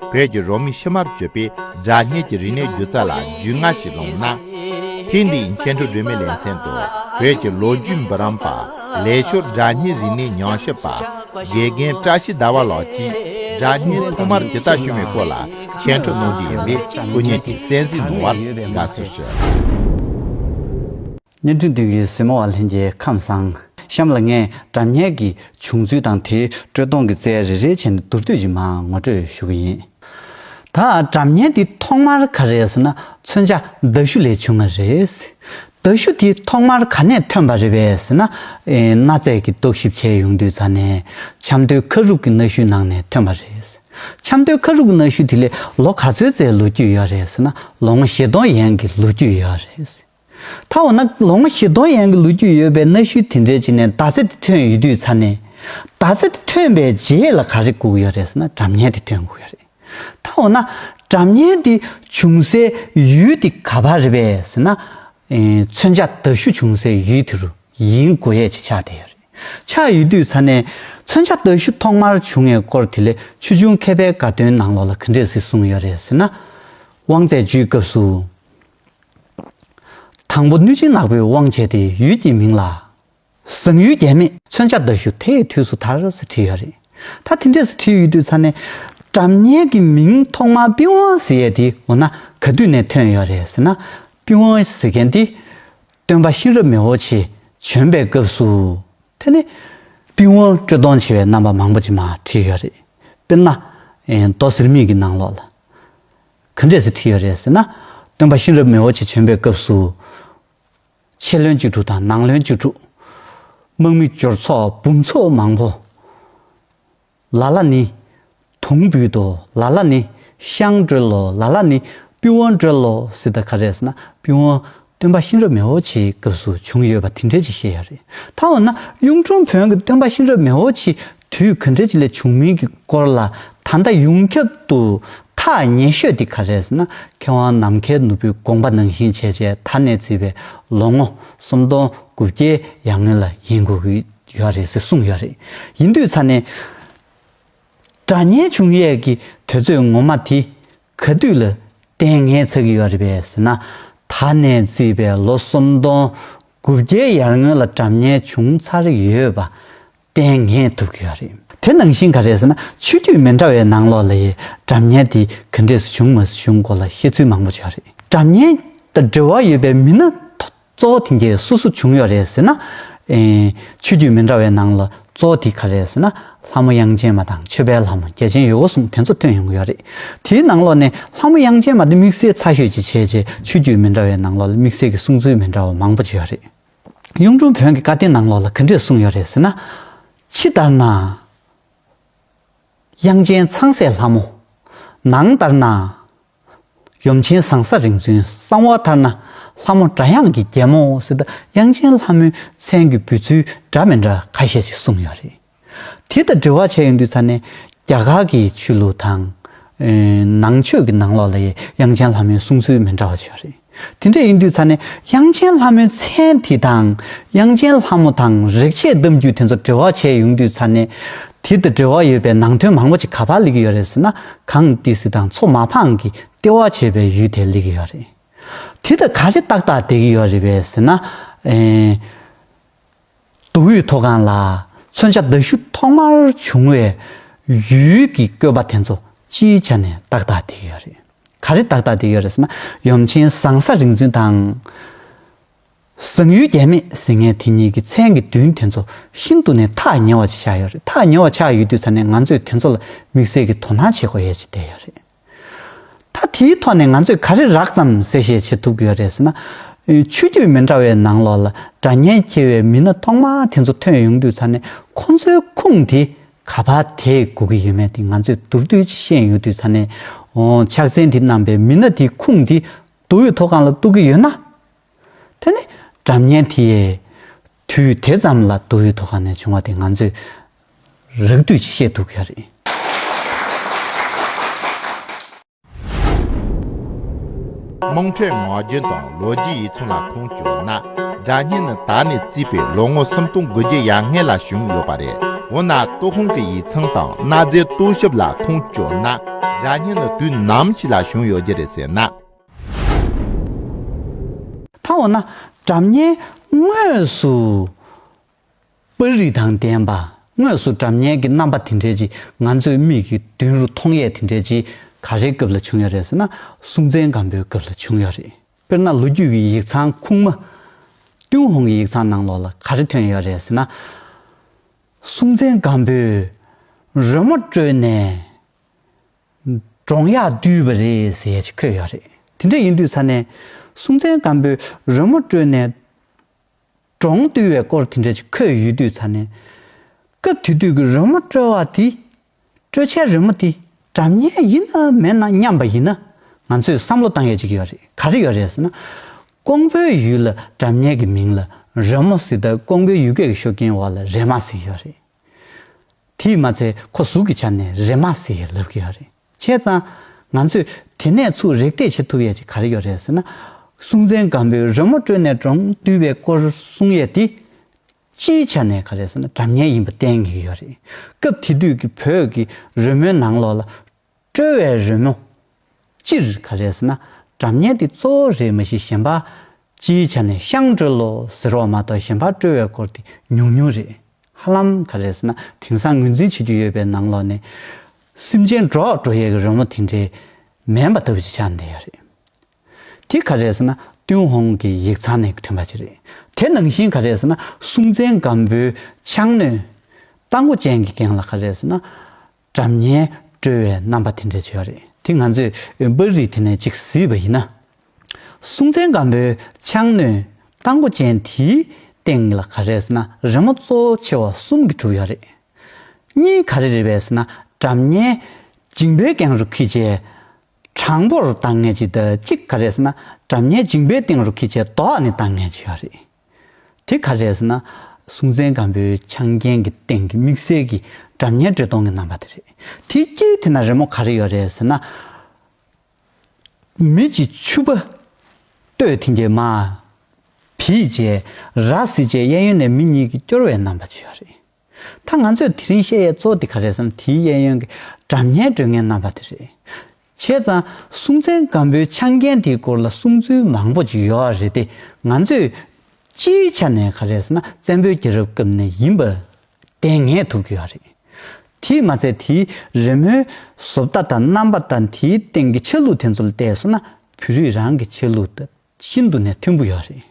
བོད་ཀྱི་རོ་མི་ཕྱི་མར་བཅོས་པའི་སྒྲ་སྙན་གྱི་རིག་གནས་སྒྱུ་རྩལ་ལ་རྒྱུས་མངའ་ཞིག་སློང་ན། ཐེངས་འདིའི་མཁན་སྤྲུལ་སྒྲོལ་མའི་ལེ་ཚན་དུ་བོད་ཀྱི་ལོ་རྒྱུས་འབུམ་རམས་པ་ལས་ཤོར་སྒྲ་སྙན་རིག་གནས་ཉམས་ཞིབ་པ་དགེ་རྒན་བཀྲ་ཤིས་ཟླ་བ་ལགས་ཀྱིས་སྒྲ་སྙན་ཐོག་མར་ཇི་ལྟར་བྱུང་བའི་སྐོར་ལ་མཁྱེན་སྤྲོད་གནང་རྒྱུ་ཡིན་པས་སྐུ་ཉིད་ཀྱིས་གསན་གཟིགས་གནང་བར་དགའ་བསུ་ཞུ། བརྙན་ཐུང་བདུན་གྱི་སྲིན་མོ་བ་ལྷན་གྱི་ཁམས་བཟང། གཤམ་ལ་ངས་དྲ་བརྙན་གྱི་བྱུང་ཚུལ་དང་དེའི་དཀྲོལ་གཏོང་གི་རྩལ་རེ་རེའི་ཆེད་ནས་མདོར་བསྡུས་ཀྱིས་མ་ངོ་སྤྲོད་ཞུ་གི་ཡིན། ད་དྲ་བརྙན་འདི་ཐོག་མར་ག་རེད་ཟེར་ན་མཚོན་ཆ་མདའ་གཞུ་ལས་བྱུང་བ་རེད། མདའ་གཞུ་དེ་ཐོག་མར་ག་ནས་ཐོན་པ་རེད་པས་ཟེར་ན། གནའ་རྫས་ཀྱི་རྟོག་ཞིབ་བྱས་ཡོང་དུས་རྫ་ནས་ཆབ་མདོའི་ཁ་རུག་གི་གནའ་གཞུའི་ནང་ནས་ཐོན་པ་རེད། ཆབ་མདོའི་ཁ་རུག་གི་གནའ་གཞུ་དེ་ལས་ལོ་ག་ཚོད་རྩའི་ལོ་རྒྱུས་ཡོད་རེད་ཟེར་ན་ལོ་ངོ་བཞི་སྟོང་ཡན་གྱི་ལོ་རྒྱུས་ཡོད་རེད། ད་འོ་ན་ལོ་ངོ་བཞི་སྟོང་ཡན་གྱི་ལོ་རྒྱུས་ཡོད་པའི་གནའ་ཤུལ་དེ་འདྲའི་རྗེས་ནས་མདའ་རྩེ་དེ་ཐོན་ཡོད་དུས་ཚར་ནས། མདའ་རྩེ་དེ་ཐོན་པའི་རྗེས་ལ་ག་རེ་སྒུག་ཡོད་རེད་ཟེར་ན་གྲབས་ཉལ་དེ་ཐོན་དགོས་ཡོད་རེད། ད་འོ་ན་གྲབས་ཉལ་དེ་བྱུང་སའི་ཡུལ་དེ་ག་བ་རེད་པས་ཟེར་ན། མཚོན་ཆ་མདའ་གཞུ་བྱུང་སའི་ཡུལ་དེ་རུ་ཡིན་དགོས་ཡས་ཆེ་ཆགས་བསྡད་ཡོད་རེད། ཆགས་ཡོད་དུས་ཚར་ནས། མཚོན་ཆ་མདའ་གཞུ་ཐོག་མར་བྱུང་ངའི་སྐོར་དེ་ལས་ཆུ་ཆུང་མཁས་པའི་དགའ་སྟོན་ནང་ལོགས་ལ་ག་འདྲས་གཟིགས་གསུངས་ཡོད་རེད་ཟེར་ན། དབང་རྩད་གཅོད་སྐབས་སུ། དང་པོ་གནོད་སྦྱིན་ནག་པོའི་དབང་བྱས་ཏེ་ཡུལ་གྱི་མིང་ལ། བཟང་ཡུལ་རྒྱལ་མེད། མཚོན་ཆ་མདའ་ཞུ་དེའི་དུས་སུ་དར་ཟེར་བྲིས་ཡོད་རེད། ད་དེ་འདྲས་སུ་བྲིས་ཡོད་དུས་ཚར་ནས། བྲམ་གཉན་གྱི་མིང་ཐོག་མར་པི་ཝང་ཟེར་ཡས་དེ་འོ་ན་ག་དུས་ནས་ཐོན་ཡོད་རེད་ཟེར་ན། པི་ཝང་ཟེར་མཁན་དེ། སྟོན་པ་གཤེན་རབ་མི་བོ་ཆེ་བྱོན་པའི་སྐབས་སུ། དེ་ནས། པི་ཝང་དཀྲོལ་གཏོང་བྱེད་པའི་རྣམ་པ་མང་པོ་ཅིག་མ་བྲིས་ཡོད་རེད། དཔེར་ན། མདོ་ཟེར་མིང་གི་ནང་ལོགས་ལ། ག་འདྲས་སུ་བྲིས་ཡོད་རེད་ཟེར་ན། སྟོན་པ་གཤེན་རབ་མི་བོ་ཆེ་བྱོན་པའི་སྐབས་སུ། ཕྱི་བློན་བཅུ་དྲུག་དང་ནང་བློན་བཅུ་དྲུག། དམག་མི་འབྱོར་ཚོགས་འབུམ་ཚོགས་མང་བོ། ལ་ལ་ནི། དུང་འབུད་དོ་ལ་ལ་ནི། ཤངས་དཀྲོལ་ལོ་ལ་ལ་ནི། པི་ཝང་དཀྲོལ་ལོ་ཟེར་ད་ག་རེད་ཟེར་ན། པི་ཝང། སྟོན་པ་གཤེན་རབ་མེ་འོ་ཆིའི་སྐབས་སུ་བྱུང་ཡོད་པ་དེ་འདྲས་ཅིག་ཤེས་ཡ་རེད། ད་འོ་ན་གཡུང་དྲུང་བོན་གྱི་སྟོན་པ་གཤེན་རབ་མེ་འོ་ཆིའི་དུས་ག་འདྲས་ཅིག་ལས་བྱུང་མིན་གྱི་སྐོར་ལ་ད་ལྟ་ཡོངས་ཁྱབ་ཏུ་ཐག་ཉེ་ཤོས་དེ་ག་རེད་ཟེར་ན་མཁས་དབང་ནམ་མཁའི་ནོར་བུའི་དགོངས་པ་ནང་བཞིན་བྱས་བྱས་ད་ནས་བརྩིས་པའི་ལོ་ངོ་སུམ་སྟོང་དགུ་བརྒྱའི་ཡར་སྔོན་ལ་ཡིན་དགོས་ཀྱི་ཡོད་རེད་ཟེར་གསུངས་ཡོད་རེད། ཡིན་དུས་ཚར་ནས། སྒྲ་སྙན་བྱུང་ཡས་ཀྱི་དུས་ཚོད་ངོ་མ་དེ་ག་དུས་ལ་ལྟས་ངན་ཚ་གི་ཡོད་རེད་པས་ཟེར་ན། ད་ནས་བརྩིས་པའི་ལོ་སུམ་སྟོང་དགུ་བརྒྱའི་ཡར་སྔོན་ལ་གྲབས་ཉེས་བྱུང་ཚར་ཡོད་པ་ལྟས་ངན་ཐུབ་གི་ཡོད་རེད། དེ་ནང་བཞིན་ག་རེད་ཟེར་ན་ཆོས་དུས་མི་འདྲ་བའི་ནང་ལོགས་ལ་ཡི་གྲབས་ཉེས་དེ་ག་འདྲས་སུ་བྱུང་མ་བྱུང་སྐོར་ལ་བཤད་ཚུལ་མང་པོ་བྱུང་ཡོད་རེད། གྲབས་ཉེས་དང་འབྲེལ་བ་ཡོད་པའི་མི་སྣ་གཙོ་བོ་དེ་འདྲའི་སོ་སོ་བྱུང་ཡོད་རེད་ཟེར་ན། ཆོས་བརྒྱུད་མི་འདྲ་བའི་ནང་ལ་གཙོ་བོ་དེ་ག་རེད་ཟེར་ན། ལྷ་མོ་དབྱངས་ཅན་མ་དང་ཆོས་དཔལ་ལྷ་མོ་རྒྱལ་ཆེན་ཡོད་འོ་གསུངས་དེ་ཚོ་ཐོན་ཡོང་གི་ཡོད་རེད། དེའི་ནང་ལོགས་ནས་ལྷ་མོ་དབྱངས་ཅན་མ་དེ་དམིགས་བསལ་ཚ་ཤོས་ཅིག་བྱས་རྗེས་ཆོས་བརྒྱུད་མི་འདྲ་བའི་ནང་ལོགས་ལ་དམིགས་བསལ་གྱི་གསུང་ཚུལ་མི་འདྲ་བ་མང་པོ་བྱས་ཡོད་རེད། གཡུང་དྲུང་བོན་གྱི་བཀའ་བསྟན་ནང་ལོགས་ལ་ག་འདྲས་གསུངས་ཡོད་རེད་ཟེར་ན། ཕྱི་ལྟར་ན། དབྱངས་ཅན་ཚངས་སྲས་ལྷ་མོ། ནང་ལྟར་ན། ཡུམ་ཆེན་ཟངས་ས་རིང་བཙུན་གསང་བ་ལྟར་ན། ལྷ་མོ་སྒྲ་དབྱངས་ཀྱི་རྒྱལ་མོ་སྲིད། དབྱངས་ཅན་ལྷ་མོའི་མཚན་གྱི་འབོད་ཚུལ་འདྲ་མི་འདྲ་ཁ་ཤས་ཤིག་གསུངས་ཡོད་རེད། དེ་དང་འབྲེལ་བ་བྱས་ཡོང་དུས་ཚར་ནས། རྒྱ་གར་གྱི་ཆོས་ལུགས་དང། ནང་ཆོས་ཀྱི་ནང་ལོགས་ལ་ཡང་དབྱངས་ཅན་ལྷ་མོའི་གསུང་ཚུལ་མི་འདྲ་བ་བྱུང་ཡོད་རེད། དེ་འདྲ་ཡིན་དུས་ཚར་ནས་དབྱངས་ཅན་ལྷ་མོའི་མཚན་དེ་དང། དབྱངས་ཅན་ལྷ་མོ་དང་རེག་བྱའི་གཏམ་རྒྱུད་དེ་ཚོ་འབྲེལ་བ་བྱས་ཡོང་དུས་ཚར་ནས། དེ་དང་འབྲེལ་བ་ཡོད་པའི་ནང་དོན་མང་པོ་ཅིག་ག་པར་ལེགས་ཡོད་རེད་ཟེར་ན་གངས་ཏི་སི་དང་མཚོ་མ་འཕང་གི་ལྟེ་བ་བྱས་པའི་ཡུལ་དེ་ལེགས་ཡོད་རེད། དེ་དང་ག་རེ་ཏག་ཏག་འདེགས་ཡོད་རེད་པས་ཟེར་ན། མདོ་དབུས་མཐོ་སྒང་ལ་མཚོན་ཆ་མདའ་གཞུ་ཐོག་མར་བྱུང་བའི་ཡུལ་གྱི་བཀོད་པ་དེ་ཚོ་སྤྱིའི་ཆ་ནས་ཏག་ཏག་བསྡད་ཡོད་རེད། ག་རེ་ཏག་ཏག་བསྡད་ཡོད་རེད་ཟེར་ན་ཡུམ་ཆེན་བཟང་ས་རིག་འཛིན་དང། བཟང་ཡུལ་རྒྱལ་མེད་ཟེར་མཁན་དེ་གཉིས་ཀྱི་མཚན་གྱི་མདུན་དེ་ཚོ་ཤིན་ཏུ་ནས་ཐག་ཉེ་བ་ཅིག་ཆགས་ཡོད་རེད་ཐག་ཉེ་བ་ཆགས་ཡོད་དུས་ཚ་ནས་ང་ཚོས་དེ་ཚོ་ལ་དམིགས་བསལ་གྱི་དོ་སྣང་བྱེད་དགོས་ཡས་ཅིག་བསྡད་ཡོད་རེད། ད་དེའི་ཐོག་ནས་ང་ཚོས་ག་རེ་རགས་ཙམ་གསལ་བཤད་བྱེད་ཐུབ་ཀྱི་ཡོད་རེད་ཟེར་ན། ཆོས་བརྒྱུད་མི་འདྲ་བའི་ནང་ལོགས་ལ་དགྲ་གཉེན་འཁྱེར་བའི་མི་སྣ་ཐོག་མ་དེ་ཚོ་ཐོན་ཡོང་དུས་ཚར་ནས་ཁོང་ཚོའི་ཁུངས་དེ་ག་བ་དེ་གོ་གི་ཡོད་མེད་དེ་ང་ཚོས་མདོར་བསྡུས་ཀྱིས་ཤེས་ཡོང་དུས་ཚར་ནས། ཕྱག་མཚན་དེ་བསྣམས་པའི་མི་སྣ་དེའི་ཁུངས་དེ་མདོ་དབུས་མཐོ་སྒང་ལ་གཏུགས་ཀྱི་ཡོད་ན། དེ་ནི་དགྲ་གཉེན་དེ། དུས་དེ་ཙམ་ལ་དུག་ཡུལ་དུ་གང་ནས་བྱུང་བ་དེ་ང་ཚོས་རགས་བསྡུས་ཀྱིས་ཤེས་ཐུབ་ཀྱི་རེད། དམངས་ཁྲོད་ངག་རྒྱུན་དང་ལོ་རྒྱུས་ཡིག་ཚང་ལ་ཁུངས་བཅོལ་ན། སྒྲ་སྙན་ནི་ད་ནས་བརྩིས་པའི་ལོ་ངོ་སུམ་སྟོང་དགུ་བརྒྱའི་ཡར་སྔས་ལ་བྱུང་ཡོད་པ་རེད། འོ་ན་ཏུའུ་ཧུང་གི་ཡིག་ཚང་དང་གནའ་རྫས་རྟོག་ཞིབ་ལ་ཁུངས་བཅོལ་ན། སྒྲ་སྙན་ནི་དུས་ནམ་ཞིག་ལ་བྱུང་ཡོད་རྒྱུ་རེད་ཟེར་ན། མཐའ་འོ་ན་གྲམ་ཉེ་དངོས་སུ་པར་རིས་དང་ལྡན་པ་དངོས་སུ་གྲམ་ཉེ་གི་རྣམ་པ་དེ་འདྲའི་ཅི་ང་ཚོའི་མིག་གི་མདུན་རུ་མཐོང་ཡས་དེ་འདྲའི་ཅི་ག་རེའི་སྐབས་ལ་བྱུང་ཡ་རེད་ཟེར་ན་སྲུང་བཙན་སྒམ་པོའི་སྐབས་ལ་བྱུང་ཡ་རེད། དཔེར་ན་ལོ་རྒྱུས་ཀྱི་ཡིག་ཚང་ཁུངས་མ། ཏུན་ཧོང་གི་ཡིག་ཚང་ནང་ལོགས་ལ་ག་རེ་ཐོན་ཡོད་རེད་ཟེར་ན། སྲུང་བཙན་སྒམ་པོས་རོལ་མོ་དཀྲོལ་ནས་འབྲོང་གཡག་བསྡུས་པ་རེད་ཟེར་ཡས་ཆེ་འཁོད་ཡོད་རེད་དེ་འདྲ་ཡིན་དུས་ཚར་ནས་སུང་ཙན་སྒམ་པོས་རོལ་མོ་དཀྲོལ་ནས་འབྲོང་བསྡུས་བའི་སྐོར་དེ་འདྲ་ཆེ་འཁོད་ཡོད་དུས་ཚར་ནས་སྐབས་དེ་དུས་ཀྱི་རོལ་མོ་དཀྲོལ་བ་དེ་དཀྲོལ་བྱའི་རོལ་མོ་དེ་དགྲ་གཉེན་ཡིན་ན་མེད་ན་སྙམ་པ་ཡིན་ན་ང་ཚོས་བསམ་བློ་བཏང་ཡས་ཅིག་ཡོད་རེད་ག་རེ་ཡོད་རེད་ཟེར་ན་ཀོང་པོའི་ཡུལ་ལ་དགྲ་གཉེན་གྱི་མིང་ལ་རོལ་མོ་ཟེར་ད་ཀོང་པོའི་ཡུལ་སྐད་ཀྱི་ཤུགས་རྐྱེན་འོག་ལ་རེད་མ་ཟེར་ཡོད་རེད། དེས་མ་ཚད་ཁོ་གཟུགས་ཀྱི་ཆ་ནས་རེ་མ་ཟེ་ཡི་ལབ་ཀྱི་ཡོད་རེད། བྱས་ཙང། ང་ཚོས་དེ་ནས་ཚུར་རེག་བལྟས་བྱེད་ཐུབ་ཡས་ཅིག་ག་རེ་ཡོད་རེད་ཟེར་ན། སྲུང་བཙན་སྒམ་པོའི་རོལ་མོ་དཀྲོལ་ནས་གྲོང་བསྡུས་པའི་སྐོར་གསུང་ཡས་དེ། སྤྱིའི་ཆ་ནས་ག་རེ་ཟེར་ན་དྲ་ངན་ཡིན་པ་བསྟན་ངེས་ཡོད་རེད། སྐབས་དེ་དུས་ཀྱི་བོད་ཀྱི་རོལ་མོའི་ནང་ལོགས་ལ། དཀྲོལ་བའི་རོལ་མོ། སྤྱིར་ག་རེ་ཟེར་ན་དགྲ་གཉེན་འདི་གཙོ་བོ་རེད་མ་གཞི་གཞན་པ། སྤྱིའི་ཆ་ནས་ཤངས་དཀྲོལ་ལོ་ཟེར་བ་མ་གཏོགས་གཞན་པ་དཀྲོལ་བའི་སྐོར་དེ་ཉུང་ཉུང་རེད། ཧ་ལམ་ག་རེ་ཟེར་ན་དེང་སང་ངོས་འཛིན་བྱེད་རྒྱུ་ཡོད་པའི་ནང་ལོགས་ནས། སེམས་ཅན་སྒྲོག་དཀྲོལ་ཡས་ཀྱི་རོལ་མོ་དེ་འདྲའི་མེད་པ་ལྟ་བུ་ཅིག་ཆགས་བསྡད་ཡོད་རེད། དེ་ག་རེ་ཟེར་ན་ཏུན་ཧོང་གི་ཡིག་ཚང་ནས་ཐོན་པ་ཅིག་རེད། དེ་ནང་བཞིན་ག་རེ་ཟེར་ན་སྲུང་བཙན་སྒམ་པོའི་ཕྱག་གནོན། རྟ་མགོ་ཅན་གྱི་གེང་ལ་ག་རེ་ཟེར་ན། དགྲ་གཉེན་སྤྲོད་བའི་རྣམ་པ་དེ་འདྲ་བྱས་པ་རེད། དེ་ང་ཚོས་པར་རིས་དེ་ནས་གཅིག་བཟོས་པ་ཡིན་ན། སྲོང་བཙན་སྒམ་པོའི་ཕྱག་གནོན་རྟ་མགོ་ཅན་དེའི་སྟེང་ལ་ག་རེ་ཟེར་ན་རི་མོ་གཙོ་བོ་ཆེ་བ་གསུམ་གྱིས་གྲུབ་ཡོད་རེད། གཉིས་ག་རེ་རེད་བས་ཟེར་ན་དགྲ་གཉེན་འཇིང་པོའི་སྒང་རུ་ཁི་ཆའི་གྲངས་འབོར་ལྡང་ངེས་ཅིག་གཅིག་ག་རེ་ཟེར་ན་དགྲ་གཉེན་འཇིང་པོའི་སྟེང་རུ་ཁི་ཆའི་རྡོག་ནི་ལྡང་ངེས་ཅིག་ཡོད་རེད། དེ་ག་རེད་ཟེར་ན། སྲོང་བཙན་སྒམ་པོའི་ཆང་རྒྱན་གྱི་སྟེང་གི་དམིགས་བསལ་གྱི་སྒྲ་སྙན་སྒྲོན་གཏོང་གི་རྣམ་པ་དེ་རེད། དེའི་དཀྱིལ་དེ་ན་རི་མོ་ག་རེ་ཡོད་རེད་ཟེར་ན། མི་གཅིག་ཕྱུ་པ་སྟོད་མཐིང་གི་མ། བིས་བཅས་ར་བཟི་བཅས་གཡས་གཡོན་ནས་མི་གཉིས་ཀྱིས་སྐྱོར་བའི་རྣམ་པ་བཅས་ཡོད་རེད། ད་ང་ཚོས་དེ་རིང་བཤད་ཡས་གཙོ་དེ་ག་རེད་བསམ་དེའི་གཡས་གཡོན་གྱི་དགྲ་གཉེན་སྒྲོལ་ངན་རྣམ་པ་དེ་རེད། བྱས་ཙང་སྲུང་བཙན་སྒམ་པོའི་ཆ་འགན་དེའི་སྐོར་ལ་གསུང་ཚུལ་མང་པོ་ཅིག་ཡོད་རེད་དེ་ང་ཚོས། སྤྱིའི་ཆ་ནས་ག་རེད་ཟེར་ན་བཙན་པོའི་རྒྱལ་རབས་སྐབས་ནས་ཡིན་པ། བདེན་ངེས་ཐུབ་ཀྱི་ཡོད་རེད། དེས་མ་ཚད་དེའི་རི་མོའི་བཟོ་ལྟ་དང་རྣམ་པ་དང་དེའི་སྟེང་གི་ཆ་ལུགས་དེ་ཚོ་ལ་བལྟས་སོང་ན་བོད་རིགས་རང་གི་ཆ་ལུགས་དང་ཤིན་ཏུ་ནས་མཐུན་པོ་ཡོད་རེད།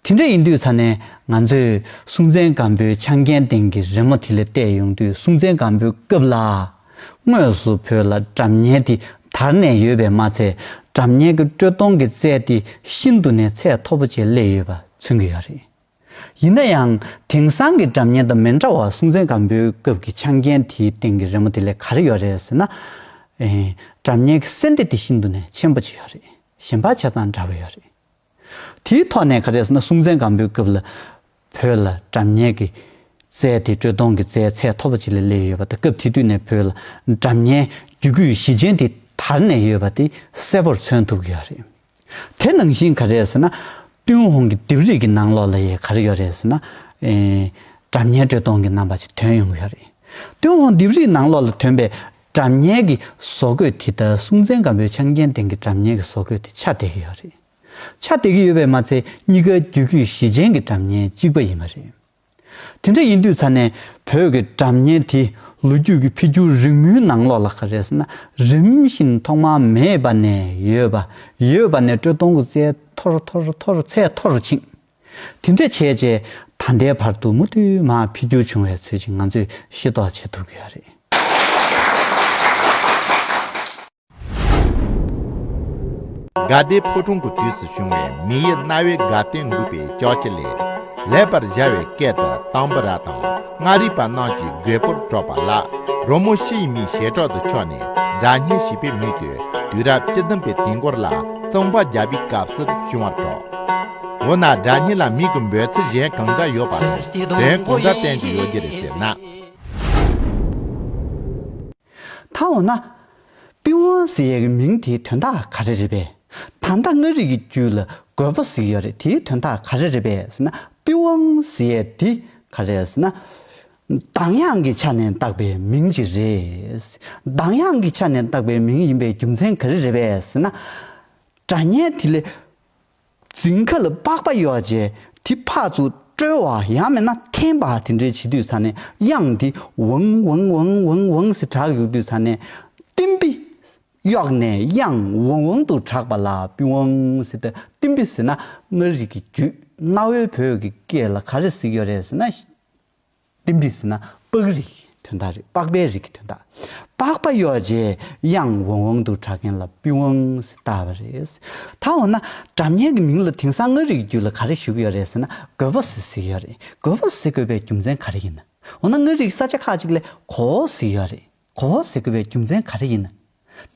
དེ་འདྲ་ཡིན་དུས་ཚ་ནས་ང་ཚོས་སྲུང་བཙན་སྒམ་པོའི་ཆང་རྐྱལ་སྟེང་གི་རི་མོ་དེ་ལས་བལྟས་ཡོང་དུས་སྲུང་བཙན་སྒམ་པོའི་སྐབས་ལ། དངོས་སུ་བོད་ལ་གྲབས་བསྙལ་དེ་དར་ནས་ཡོད་པས་མ་ཚད་གྲབས་བསྙལ་གྱི་དཀྲོལ་གཏོང་གི་རྩལ་དེ་ཤིན་ཏུ་ནས་ཚད་མཐོ་པོ་བཅས་སླེབས་ཡོད་པ་མཚོན་གྱི་ཡོད་རེད། ཡིན་ན་ཡང་དེང་སང་གི་གྲབས་བསྙལ་དང་མི་འདྲ་བར་སྲུང་བཙན་སྒམ་པོའི་སྐབས་ཀྱི་ཆང་རྐྱལ་དེའི་སྟེང་གི་རི་མོ་དེ་ལས་ག་རེ་ཡོད་རེད་ཟེར་ན། གྲབས་བསྙལ་གྱི་གསལ་འདེབས་དེ་ཤིན་ཏུ་ནས་ཆེན་པོ་བྱས་ཡོད་རེད་གཞན་པ་ཆ་ཚང་འདྲ་བོ་ཡོད་རེད། དེའི་ཐོག་ནས་ག་རེ་ཟེར་ན་སྲུང་བཙན་སྒམ་པོའི་སྐབས་ལ་བོད་ལ་འདྲ་མཉེན་གྱི་རྩལ་དེ་དྲོད་སྟོང་གི་རྩལ་ཚད་མཐོ་པོ་ཅིག་ལ་སླེབས་ཡོད་པ་དང་སྐབས་དེ་དུས་ནས་བོད་ལ་འདྲ་མཉེན་རྒྱུད་སྐུད་གཞི་ཅན་དེ་དར་ནས་ཡོད་པ་དེ་གསལ་པོར་མཚོན་ཐུབ་གི་ཡོད་རེད། དེ་ནང་བཞིན་ག་རེ་ཟེར་ན་ཏུན་ཧོང་གི་ལྡེབས་རིས་ཀྱི་ནང་ལོགས་ལ་ཡི་ག་རེ་ཡོད་རེད་ཟེར་ན། འདྲ་མཉེན་དྲོད་སྟོང་གི་རྣམ་པ་ཅིག་དོན་ཡོང་གི་ཡོད་རེད། ཏུན་ཧོང་ལྡེབས་རིས་ནང་ལོགས་ལ་ཐོན་པའི་དྲ་མཉེན་གྱི་བཟོ་བཀོད་དེ་ལྟར་སྲུང་བཙན་སྒམ་པོའི་ཆང་རྐྱེན་སྟེང་གི་དྲ་མཉེན་གྱི་བཟོ་བཀོད་དེ་ཆ་འདེགས་ཀྱི་ཡོད་རེད། ཆ་འདེགས་ཀྱི་ཡོད་པས་མ་ཚད་གཉིས་ཀའི་རྒྱུད་རྒྱུད་བཞི་ཅན་གྱི་དྲ་མཉེན་གཅིག་པ་ཡིན་པ་རེད། དེ་འདྲ་ཡིན་དུས་ཚ་ནས་བོད་ཀྱི་དྲ་མཉེན་དེ་ལོ་རྒྱུས་ཀྱི་འཕེལ་འགྱུར་རིང་མོའི་ནང་ལོགས་ལ་ག་རེ་ཟེར་ན་རིམ་བཞིན་ཐོག་མ་མེད་པ་ནས་ཡོད་པ་ཡོད་པ་ནས་དཀྲོལ་གཏོང་གི་ཚད་མཐོ་རུ་མཐོ་རུ་མཐོ་རུ་ཚད་མཐོ་རུ་ཕྱིན། དེ་འདྲ་བྱས་རྗེས་ད་ལྟའི་བར་དུ་མུ་མཐུད་མ་འཕེལ་འགྱུར་བྱུང་བའི་ཚུལ་གྱིས་ང་ཚོས་ཤེས་རྟོགས་བྱེད་ཐུབ་ཀྱི་རེད། དགའ་བདེའི་ཕོ་ཁྲོང་གི་དུས་སུ་བྱུང་བའི་མི་ཡི་རྣ་བའི་དགའ་སྟོན་འགུགས་པའི་ལྕགས་ཀྱི་ལས། ལེགས་པར་སྦྱར་བའི་སྐད་དུ་དང་བུ་ར་དང་མངའ་རིས་པ་རྣམས་ཀྱི་རྒོད་པོར་སྤྲོ་པ་ལ། རོལ་མོ་ཕྱི་ཡི་མིའི་ཞལ་གྲོགས་དུ་ཕྱོགས་ནས་སྒྲ་སྙན་ཞིག་པའི་མུས་དུས་དུས་རབས་བཅུ་བདུན་པའི་དུས་འགོར་ལ་རྩོམ་པ་རྒྱ་བིས་སྐབས་སུ་བྱུང་བར་གྲགས། འོ་ན་སྒྲ་སྙན་ལ་མིག་གི་འབོད་ཚིག་གཞན་གང་འདྲ་ཡོད་པ་དང་དེ་གང་འདྲ་བསྟན་གྱི་ཡོད་ཀྱི་རེད་ཟེར་ན། ད་འོ་ན། པི་ཝང་ཟེར་ཡས་ཀྱི་མིང་དེའི་དོན་དག་ག་རེ་རེད་པས། ད་ལྟ་མངའ་རིས་ཀྱི་རྒྱུད་ལ་རྒོད་པོ་ཟེར་གྱི་ཡོད་རེད་དེའི་དོན་དག་ག་རེ་རེད་པས་ཟེར་ན། པི་ཝང་ཟེར་ཡས་འདི་ག་རེ་རེད་ཟེར་ན། གདངས་དབྱངས་ཀྱི་ཆ་ནས་བཏགས་པའི་མིང་ཅིག་རེད། གདངས་དབྱངས་ཀྱི་ཆ་ནས་བཏགས་པའི་མིང་ཡིན་པའི་རྒྱུ་མཚན་ག་རེ་རེད་པས་ཟེར་ན། སྒྲ་སྙན་དེ་ལས། རྫིང་ཁ་ལ་པགས་པ་གཡོགས་རྗེས་དེ་ཕག་ཚུགས་དཀྲོལ་བ་ཡང་མེད་ན་ཐན་པ་དེ་འདྲའི་བྱེད་དུས་ས་ནས་དབྱངས་དེ་ཝང་ཝང་ཝང་ཝང་ཝང་ཟེར་གྲགས་གཡུག་དུས་ས་ནས་ཏིམ་པི། གཡོགས་ནས་དབྱངས་ཝང་ཝང་དུ་གྲགས་པ་ལ་པི་ཝང་ཟེར་ཏེ་ཏིམ་པི་ཟེར་ན་མངའ་རིས་ཀྱི་རྒྱུད་གནའ་བོའི་བོད་ཀྱི་སྐད་ལ་ག་རེ་ཟེར་ཡོད་རེད་ཟེར་ན། ལྡེམ་རིག་ཟེར་ན་པགས་རིགས་དོན་དག་རེད་པགས་པའི་རིགས་ཀྱི་དོན་དག། པགས་པ་གཡོགས་རྗེས་གཡང་འོང་འོང་དུ་གྲགས་མཁན་ལ་པི་ཝང་ཟེར་བཏགས་པ་རེད། ད་འོ་ན་གྲབ་གཉན་གྱི་མིང་ལ་དེང་སང་ངག་རིག་རྒྱུད་ལ་ག་རེ་ཞུགས་ཡོད་རེད་ཟེར་ན་གོས་བོ་ཟེར་ཟིག་ཡོད་རེད་གོས་བོ་ཟེར་དགོས་པའི་རྒྱུ་མཚན་ག་རེ་ཡིན། འོ་ན་ངག་རིག་ས་ཆ་ཁག་ཅིག་ལས་གོ་བོ་ཟེར་ཡོད་རེད། གོ་བོ་ཟེར་དགོས་པའི་རྒྱུ་མཚན་ག་རེ་ཡིན།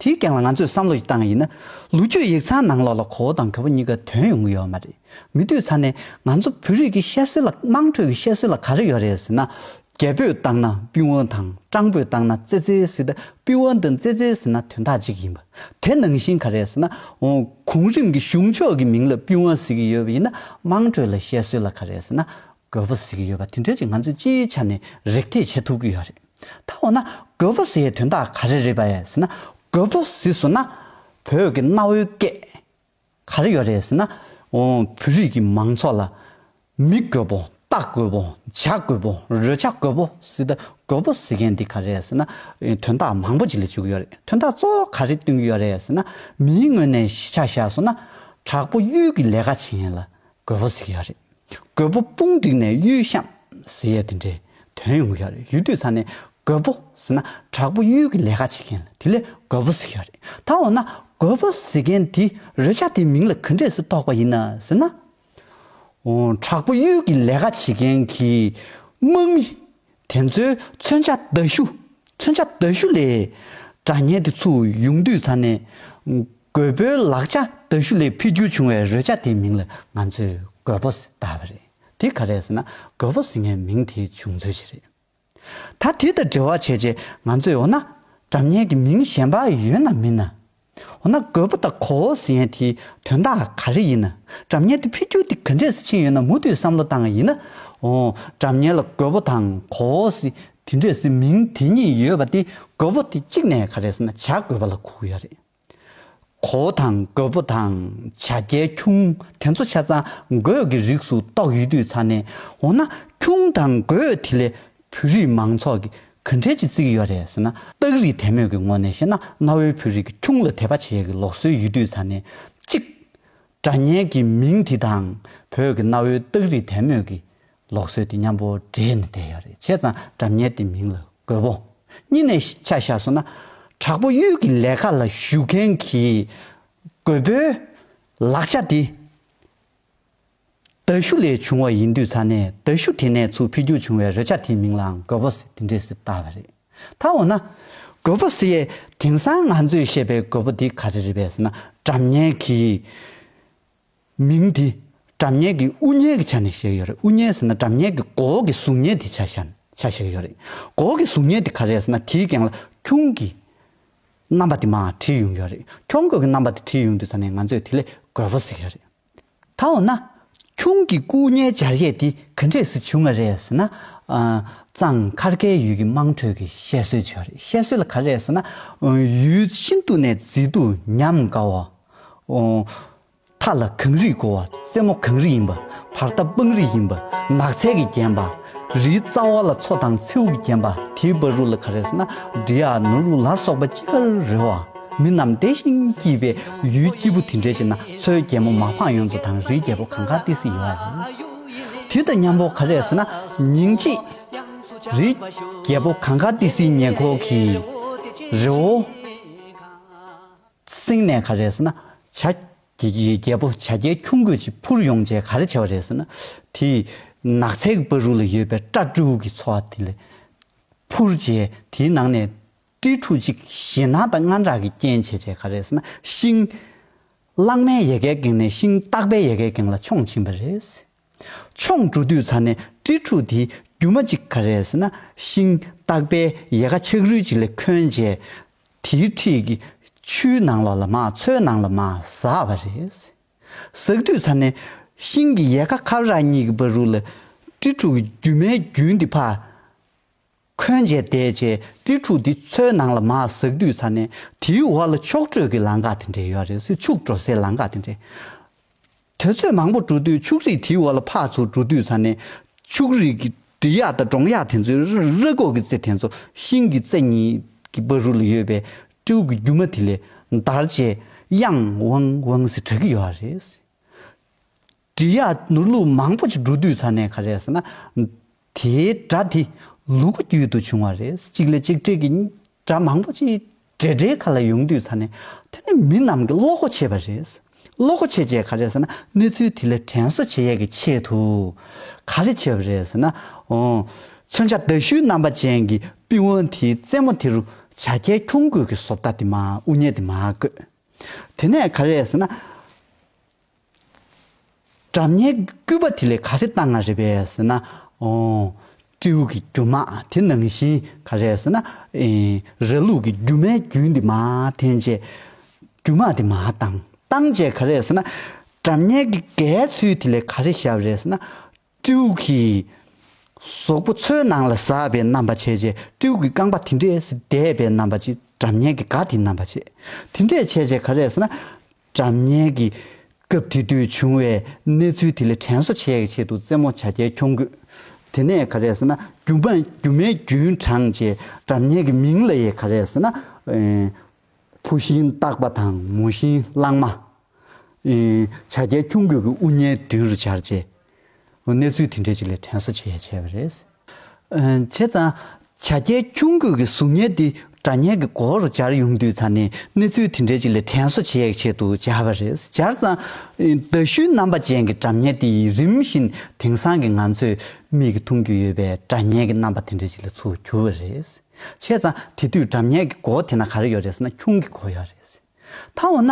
དེའི་སྟེང་ལ་ང་ཚོས་བསམ་བློ་ཞིག་བཏང་ཡིན་ན། ལུས་རྒྱུད་ཡིག་ཚང་ནང་ལོགས་ལ་གོ་བོ་དང་གོད་པོ་གཉིས་ཀ་དོན་ཡོང་གི་ཡོད་མ་རེད། མི་འདུས་ཚར་ནས་ང་ཚོ་བོད་རིགས་ཀྱི་བཤད་སྲོལ་ལ་དམངས་ཁྲོད་ཀྱི་བཤད་སྲོལ་ལ་ག་རེ་ཡོད་རེད་ཟེར་ན། རྒྱལ་པོས་བཏང་ན་དཔུན་བོ་དང་སྤྲང་པོས་བཏང་ན་ཙེ་ཙེ་ཟེར་ཏེ་དཔུན་བོ་འདི་ཙེ་ཙེ་ཟེར་ན་དོན་དག་ཅིག་ཡིན་པ། དེ་ནང་བཞིན་ག་རེ་ཟེར་ན། གོང་རིམ་གྱི་གཞུང་ཕྱོགས་ཀྱི་མིང་ལ་དཔུན་བོ་ཟེར་གྱི་ཡོད་པ་ཡིན་ན་དམངས་ཁྲོད་ལ་བཤད་སྲོལ་ལ་ག་རེ་ཟེར་ན་གོད་བོ་ཟེར་གྱི་ཡོད་པ་དེ་འདྲ་ཅིག་ང་ཚོས་སྤྱིའི་ཆ་ནས་རེག་ཐེག་བྱེད་ཐུབ་ཀྱི་ཡོད་རེད། ད་འོ་ན་རྒོད་པོ་ཟེའི་དོན་དག་ག་རེ་རེད་བ་ཟེར་ན་རྒོད་པོ་ཟེ་ཟུར་ན་བོད་ཀྱི་གནའ་བོའི་སྐད་ག་རེ་ཡོད་རེད་ཟེར་ན་བོད་རིགས་ཀྱི་མང་ཚོགས་ལ་མི་རྒོད་པོ་ལྟ་རྒོད་པོ་བྱ་རྒོད་པོ་རོལ་ཆ་རྒོད་པོ་ཟེར་ད་རྒོད་པོ་ཟེར་མཁན་འདི་ག་རེད་ཟེར་ན་དོན་དག་མང་པོ་ཅིག་ལ་འཇུག་གི་ཡོད་རེད་དོན་དག་གཙོ་བོ་ག་རེ་སྟོན་གྱི་ཡོད་རེད་ཟེར་ན་མིའི་ངོས་ནས་གཞིས་ཆགས་བཞག་སོང་ན་དྲག་པོ་གཡུལ་གྱི་ལས་ཀ་བྱེད་ཡིན་ལ་རྒོད་པོ་ཟེར་གྱི་ཡག་རེད། རྒོད་པོ་དཔུང་བསྒྲིགས་ནས་གཡུལ་བཤམས་ཟེར་ཡས་དེ་འདྲའི་དོན་ཡོང་གི་ཡག་རེད་ཡུལ་དུས་ཚར་ནས་རྒོད་པོ་ཟེར་ན་དྲག་པོ་གཡུལ་གྱི་ལས་ཀ་བྱེད་མཁན་དེ་ལས་རྒོད་པོ་ཟེར་གྱི་ཡག་རེད་ད་འོ་ན་རྒོད་པོ་ཟེར་མཁན་དེ་རོལ་ཆ་དེའི་མིང་ལ་གུ་འདྲེ་ཟེར་དོགས་པ་ཡིན་ན་ཟེར་ན། དྲག་པོ་གཡུལ་གྱི་ལས་ཀ་བྱེད་མཁན་གྱི་དམག་མི་དེ་ཚོའི་མཚོན་ཆ་མདའ་གཞུ། མཚོན་ཆ་མདའ་གཞུ་ལས། དགྲ་གཉེན་དེ་ཚོའུ་ཡུངས་འདུས་ཚར་ནས། རྒོད་པོའི་ལག་ཆ་མདའ་གཞུ་ལས་འཕེལ་འགྱུར་བྱུང་བའི་རོལ་ཆ་དེའི་མིང་ལ་ང་ཚོས་རྒོད་པོ་ཟེར་བཏགས་པ་རེད། དེ་ག་རེད་ཟེར་ན་རྒོད་པོ་ཟེར་མཁན་མིང་དེའི་བྱུང་ཚུལ་ཞིག་རེད། ད་དེ་དང་འབྲེལ་བ་བྱས་རྗེས་ང་ཚོས་འོ་ན། དགྲ་གཉེན་གྱི་མིང་གཞན་པ་ཡོད་ན་མིན་ན། འོ་ན་རྒོད་པོ་དང་གོ་བོ་ཟེར་ཡན་དེའི་དོན་དག་ག་རེ་ཡིན། གྲབས་གཉེར་དེ་འཕེལ་འགྱུར་དེ་ག་འདྲས་སུ་ཕྱིན་ཡོད་ན་མུ་མཐུད་བསམ་བློ་བཏང་བ་ཡིན་ན། འོ། གྲབས་གཉེར་ལ་རྒོད་པོ་དང་གོ་བོ་ཟེར་དེ་འདྲས་སུ་མིང་དེ་གཉིས་ཡོད་པ་དེ་རྒོད་པོ་དེ་གཅིག་ནས་ག་རེ་ཟེར་ན་བྱ་རྒོད་པ་ལ་གོ་གི་ཡོད་རེད། གོ་བོ་དང་རྒོད་པོ་དང་བྱ་རྒྱལ་ཁྱུང་དེ་ཚོ་ཆ་ཚང་རྒོད་ཀྱི་རིགས་སུ་གཏོགས་ཡོད་དུས་ཚར་ནས་འོ་ན་ཁྱུང་དང་རྒོད་དེ་ལས་བོད་རིགས་མང་ཚོགས་ཀྱི་གུན་ཁྲན་གྱིས་བརྩིགས་ཡོད་རེད་ཟེར་ན། སྟག་རིག་དད་མོས་ཀྱི་ངོ་ནས་བཤད་ན་གནའ་བོའི་བོད་རིགས་ཀྱི་ཁྱུང་ལ་དད་པ་བྱེད་ཡག་གི་ལོག་སྲོལ་ཡུལ་དུས་ཚར་ནས། གཅིག། སྒྲ་སྙན་གྱི་མིང་དེ་དང་བོད་ཀྱི་གནའ་བོའི་སྟག་རིག་དད་མོས་ཀྱི་ལོག་སྲོལ་དེ་མཉམ་པོ་འདྲེས་ནས་བསྡད་ཡོད་རེད་བྱས་ཙང་སྒྲ་སྙན་དེ་མིང་ལ་དགོས་པོ། གཉིས་ནས་ཆ་བཞག་སོང་ན། དྲག་པོ་གཡུལ་གྱི་ལས་ཁ་ལ་ཞུགས་མཁན་གྱི་རྒོད་པོའི་ལག་ཆ་དེ། དལ་ཞུགས་ལས་བྱུང་བ་ཡིན་དུས་ས་གནས་དལ་ཞུགས་དེ་ནས་ཚུར་འཕེལ་རྒྱུགས་བྱུང་བའི་རེ་ཆ་དེའི་མིང་ལའང་གོ་བོ་སི་དེ་འདྲས་སི་བཏགས་པ་རེད། ད་འོ་ན། གོ་བོ་སི་ཡས་དེང་སང་ང་ཚོས་བཤད་པའི་གོ་བོ་དེ་ག་རེ་རེད་བས་ཟེར་ན་དགྲ་གཉེན་གྱི། མིང་དེ། དགྲ་གཉེན་གྱི་དབུ་བརྙེས་ཀྱི་ཆ་ནས་བཤད་ཡོད་རེད་དབུ་བརྙེས་ཟེར་ན་དགྲ་གཉེན་གྱི་གོ་བོ་གི་གཟུགས་བརྙན་དེ་ཆ་ཤན་ཆ་བཤད་ཡོད་རེད། གོ་བོ་གི་གཟུགས་བརྙན་དེ་ག་རེ་ཟེར་ན་དེའི་སྒེང་ལ་ཁྱུང་གི། རྣམ་པ་དེ་མའང་བྲིས་ཡོང་གི་ཡོད་རེད་ཁྱུང་གོ་གི་རྣམ་པ་དེ་བྲིས་ཡོང་དུས་ས་གནས་ང་ཚོས་དེ་ལས་གོ་བོ་སི་ཡོད་རེད། ད་འོ་ན། ཁྱུང་གི་སྐུ་བརྙན་སྦྱར་ཡས་འདི་ག་འདྲས་སུ་བྱུང་བ་རེད་ཟེར་ན། གཙང་མཁར་ཁའི་ཡུལ་གྱི་དམངས་ཁྲོད་ཀྱི་བཤད་སྲོལ་བྱུང་བ་རེད་བཤད་སྲོལ་ལ་ག་རེད་ཟེར་ན། ཡུལ་ཤིན་ཏུ་ནས་མཛེས་སྡུག་ཉམས་དགའ་བ། མཐའ་ལ་གངས་རིས་བསྐོར་བ་རྩེ་མོ་གངས་རི་ཡིན་པ་བར་ཐག་སྤང་རི་ཡིན་པ་ནགས་ཚལ་གྱིས་བརྒྱན་པ། རིའི་རྩ་བ་ལ་མཚོ་དང་མཚེའུ་གྱིས་བརྒྱན་པ་དེའི་བ་རུ་ལ་ཁ་རེས་ན་འབྲི་ཡ་ནུ་རུ་ལ་སོགས་པ་ཅི་དགར་རེ་བ། མི་རྣམས་བདེ་ཞིང་སྐྱིད་པའི་ཡུལ་སྐྱིད་པོ་དེ་འདྲའི་ཆེ་ན་མཚོའི་རྒྱལ་མོ་མ་འཕངས་ཡོངས་རྫོགས་དང་རིའི་རྒྱལ་པོ་གང་ག་ཏི་སི་ཡོད་ཨ་རེད། དེ་དང་མཉམ་པོ་ག་རེས་ན་ཉིང་ཅིག། རིའི་རྒྱལ་པོ་གང་ག་ཏི་སིའི་ཉེ་འཁོར་གྱི་རི་བོ། སེང་ནས་ག་རེས་ན་བྱ། ཀྱི་རྒྱལ་པོ་བྱ་རྒྱལ་ཁྱུང་རྒོད་ཅིག་འཕུར་ཡོང་བྱས་ག་རེ་བྱས་པ་རེད་ཟེར་ན། དེས་ནགས་ཚལ་གྱི་བ་རུ་ལ་ཡོད་པའི་སྤྲ་སྤྲུག་གི་ཚོ་བ་དེ་ལ་འཕུར་བྱས་དེའི་ནང་ནས་སྤྲི་ཕྲུག་ཅིག་ཞེ་སྣང་དང་དངངས་སྐྲག་གིས་རྐྱེན་བྱས་བྱས་ག་རེ་ཟེར་ན་ཤིང། གླང་མའི་ཡལ་གའི་སྒེང་ནས་ཤིང་སྟག་པའི་ཡལ་གའི་སྒེང་ལ་མཆོངས་ཕྱིན་པ་རེད། མཆོངས་འགྲོ་དུས་ཚར་ནས་དཀྲིས་འཁྲུགས་དེའི་རྒྱུ་མ་གཅིག་ག་རེད་ཟེར་ན་ཤིང་སྟག་པའི་ཡལ་ག་ཆག་རུལ་ཅིག་ལས་ཁོན་རྗེས། དེའི་འཁྲིས་ཀྱི་ཆུའི་ནང་ལོགས་ལ་མ་འཚོས་ནང་ལ་མ་ཟགས་པ་རེད། ཟགས་དུས་ཚར་ནས་ཤིང་གི་ཡལ་ག་ཁབ་རག་གཉིས་ཀྱི་བ་རུ་ལ་དཀྲིས་འཁྲུགས་ཀྱི་རྒྱུ་མའི་རྒྱུན་འདི་ཕ། འཁོན་བཅས་བསྡད་བཅས་དཀྲིས་ཕྲུག་འདི་ཚོའི་ནང་ལ་མ་ཟགས་དུས་ཚར་ནས་དེའི་འོག་ལ་ཕྱོགས་བགྲོད་ཀྱི་ལང་ཀ་དེ་འདྲས་ཡོད་རེད་སྲིད་ཕྱུགས་འགྲོ་སའི་ལང་ཀ་དེ་འདྲས། དེ་ཚོས་མང་པོ་འགྲོ་དུས་ཕྱུགས་རིགས་དེའི་འོག་ལ་ཕག་ཚོ་འགྲོ་དུས་ཚར་ནས་ཕྱུགས་རིགས་ཀྱི་འབྲི་གཡག་དང་འབྲོང་གཡག་དེ་ཚོའི་ར་སྒོག་གི་རྩེ་དེ་ཚོ་ཤིང་གི་རྩེ་གཉིས་ཀྱི་བ་རུ་ལ་ཡོད་པའི་སྤྲེའུ་གི་རྒྱུ་མ་དེ་ལས་འདར་བཅས་དབྱངས་ཝང་ཝང་ཟེར་གྲག་གི་ཡོད་རེད་སྲིད། འབྲི་གཡག་ནུར་ལུག་མང་པོ་ཅིག་འབྲུ་དུས་ཚར་ནས་ག་རེ་ཟེར་ན། དེའི་སྒྲ་དེ་ལུ་གུ་རྒྱུད་དུ་བྱུང་བ་རེད། གཅིག་ལས་གཅིག་འཕྲད་ཀྱི་སྒྲ་མང་པོ་ཅིག་འབྲེལ་སྒྲའི་ཁ་ལ་ཡོང་དུས་ཚར་ནས། དེ་ནི་མི་རྣམས་ཀྱིས་བློ་སྒོ་ཕྱེས་པ་རེད། བློ་སྒོ་ཕྱེས་བྱས་ག་རེ་ཟེར་ན་གནས་ཚུལ་དེ་ལས་དྲན་གསོ་བྱེད་ཡས་ཀྱི་ཆེད་དུ། ག་རེ་བྱས་པ་རེད་ཟེར་ན། མཚོན་ཆ་ཟླ་ཤུལ་རྣམ་པ་ཅན་གྱི་པི་ཝང་དེའི་རྩེ་མོ་དེ་རུ་བྱ་རྒྱལ་ཁྱུང་རྒོད་ཀྱི་བཟོ་ལྟ་དེ་མ་དབུ་བརྙེས་དེ་མ་བརྐོས། དེ་ནས་ག་རེ་ཟེར་ན། སྒྲ་མཉན་དཀྱུས་པ་དེ་ལས་ག་རེ་བཏང་ང་རེད་པས་ཟེར་ན། སྤྲེའུ་གི་རྒྱུ་མ་དེ་ནང་བཞིན་ག་རེད་ཟེར་ན། ར་ལུག་གི་རྒྱུ་མའི་རྒྱུན་དེ་མ་འཐེན་རྗེས། རྒྱུ་མ་དེ་མ་བཏང། བཏང་རྗེས་ག་རེད་ཟེར་ན། སྒྲ་མཉན་གྱི་གའི་ཚུལ་དེ་ལས་ག་རེ་བཞག་རེད་ཟེར་ན། སྤྲེའུ་གི་ཟོག་པོ་མཚོའི་ནང་ལ་ཟགས་པའི་རྣམ་པ་བྱས། སྤྲེའུ་གི་རྐང་པ་དེ་འདྲས་འདས་པའི་རྣམ་པ་ཅིག་དགྲ་གཉེན་གྱི་སྒ་དེའི་རྣམ་པ་བྱས། དེ་འདྲས་བྱས་རྗེས་ག་རེ་ཟེར་ན། དགྲ་གཉེན་གྱི་སྐབས་དེ་དུས་བྱུང་བའི་གནས་ཚུལ་དེ་ལས་དྲན་གསོ་བྱེད་ཀྱི་ཆེད་དུ་རྩེད་མོ་བྱ་རྒྱལ་ཁྱོང་དགོས། དེ་ནས་ག་རེ་ཟེར་ན་རྒྱུ་མའི་རྒྱུན་དྲངས་རྗེས་དགྲ་གཉེན་གྱི་མིང་ལ་ཡི་ག་རེ་ཟེར་ན། ཕུ་ཤིང་བཏགས་པ་དང་མོ་ཤིང་བླངས་མ། བྱ་རྒྱལ་ཁྱུང་གོས་ཀྱི་དབུ་བརྙན་མདུན་རུ་སྦྱར་བཅས། གནས་ཚུལ་དེ་འབྲེལ་ཅིག་ལས་དྲན་གསོ་བྱས་བྱས་པ་རེད། བྱས་ཙང། བྱ་རྒྱལ་ཁྱུང་གོས་ཀྱི་གཟུགས་བརྙན་དེ་སྒྲ་བརྙན་གྱི་མགོ་བོ་རུ་སྦྱར་ཡོང་དུས་ཚར་ནས་གནས་ཚུལ་དེ་འབྲེལ་ཅིག་ལས་དྲན་གསོ་བྱས་བྱས་འདུག་སྦྱར་བ་རེད། སྦྱར་ཙང། མདའ་གཞུའི་རྣམ་པ་ཅན་གྱི་སྒྲ་བརྙན་དེ་ཡིས་རིམ་བཞིན་དེང་སང་གི་ང་ཚོས་མིག་གིས་མཐོང་རྒྱུ་ཡོད་པའི་སྒྲ་བརྙན་གྱི་རྣམ་པ་དེ་འབྲེལ་ཅིག་ལས་ཚུར་གྱུར་བ་རེད། བྱས་ཙང་དེ་དུས་འགྲམ་ཉལ་གྱི་སྒོ་དེ་ན་ག་རེ་ཡོད་རེད་ཟེར་ན་ཁྱུང་གི་གོ་ཡ་རེད་ཟེར། ད་འོ་ན།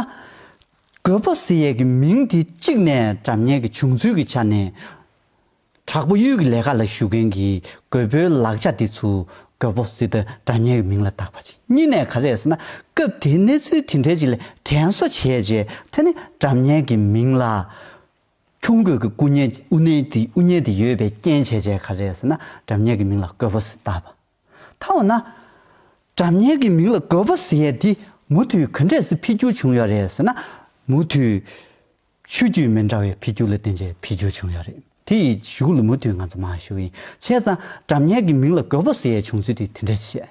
རྒོད་པོ་ཟེར་ཡས་ཀྱི་མིང་དེ་གཅིག་ནས་འགྲམ་ཉལ་གྱི་བྱུང་ཚུལ་གྱི་ཆ་ནས། དྲག་པོ་གཡུལ་གྱི་ལས་ཀ་ལ་ཞུགས་མཁན་གྱི་རྒོད་པོའི་ལག་ཆ་དེ་ཚོས་རྒོད་པོ་ཟེར་དུས་འགྲམ་ཉལ་གྱི་མིང་ལ་བཏགས་པ་ཅིག་གཉིས་ནས་ག་རེ་ཟེར་ན་སྐབས་དེའི་གནས་ཚུལ་དེ་འདྲའི་ཅིག་ལས་དྲན་གསོ་བྱས་རྗེས་དེ་ནི་འགྲམ་ཉལ་གྱི་མིང་ལ། ཁྱུང་རྒོད་ཀྱི་སྐུ་བརྙན་ཨུ་བརྙན་དེ་ཡོད་པའི་རྐྱེན་བྱས་རྗེས་ག་རེད་ཟེར་ན་དགྲ་གཉེན་གྱི་མིང་ལ་རྒོད་པོ་ཟེར་བཏགས་པ། ད་འོ་ན། དགྲ་གཉེན་གྱི་མིང་ལ་རྒོད་པོ་ཟེར་ཡས་དེ་མུ་མཐུད་ག་འདྲས་སུ་འཕེལ་འགྱུར་བྱུང་ཡོད་རེད་ཟེར་ན། མུ་མཐུད། ཆོས་བརྒྱུད་མི་འདྲ་བའི་འཕེལ་འགྱུར་ལ་བརྟེན་རྗེས་འཕེལ་འགྱུར་བྱུང་ཡོད་རེད་དེ་ཡི་གཞུག་ལ་མུ་མཐུད་ང་ཚོ་མ་ཞུ་ཡིན་བྱས་ཙང་དགྲ་གཉེན་གྱི་མིང་ལ་རྒོད་པོ་ཟེར་ཡས་བྱུང་ཚུལ་དེ་དེ་འདྲས་བཤད།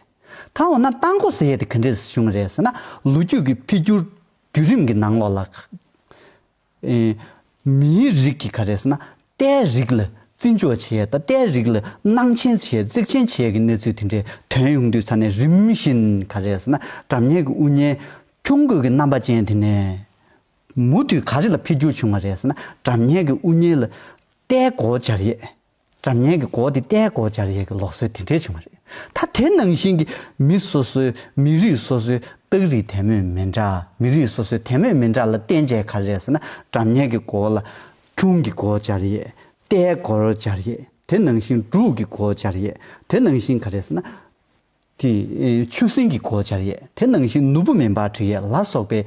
ད་འོ་ན་རྟ་མགོ་ཟེར་ཡས་དེ་ག་འདྲས་སུ་བྱུང་རེད་ཟེར་ན་ལོ་རྒྱུས་ཀྱི་འཕེལ་འགྱུར་བརྒྱུད་རིམ་གྱི་ནང་ལོགས་ལ། མིའི་རིགས་ཀྱིས་ག་རེ་ཟེར་ན་རྟའི་རིགས་ལ་བརྩི་འཇོག་བྱས་དང་རྟའི་རིགས་ལ་སྣང་ཆེན་བྱས་གཙིགས་ཆེན་བྱས་ཀྱི་གནས་ཚུལ་དེ་འདྲའི་དོན་ཡོང་དུས་ཚ་ནས་རིམ་བཞིན་ག་རེ་ཟེར་ན་དགྲ་གཉེན་གྱི་དབུ་བརྙན་ཁྱུང་རྒོད་ཀྱི་རྣམ་པ་ཅན་དེ་ནས་མུ་མཐུད་ག་རེ་ལ་འཕེལ་འགྱུར་བྱུང་བ་རེད་ཟེར་ན་དགྲ་གཉེན་གྱི་དབུ་བརྙན་ལ་རྟའི་གོ་བྱ་རེད། དགྲ་གཉེན་གྱི་སྒོ་དེ་ལྟའི་སྒོ་སྦྱར་ཡས་ཀྱི་ལོག་སྲོལ་དེ་འདྲའི་བྱུང་བ་རེད། ད་དེ་ནང་བཞིན་གྱི་མི་སོ་སོའི་མི་རིགས་སོ་སོའི་རྟགས་རིགས་དད་མོས་མི་འདྲ་མི་རིགས་སོ་སོའི་དད་མོས་མི་འདྲ་ལ་བརྟེན་བྱས་ག་རེ་ཟེར་ན་དགྲ་གཉེན་གྱི་སྒོ་ལ། ཁྱུང་གི་སྒོ་སྦྱར་ཡས། རྟའི་སྒོར་སྦྱར་ཡས་དེ་ནང་བཞིན་འབྲུག་གི་སྒོ་སྦྱར་ཡས་དེ་ནང་བཞིན་ག་རེ་ཟེར་ན། དེ་ཆུ་སྲིན་གྱི་གོ་ཆར་ཡས་དེ་ནང་བཞིན་ནུ་བོ་མེ་འབར་གྲི་ཡས་ལ་སོགས་པའི།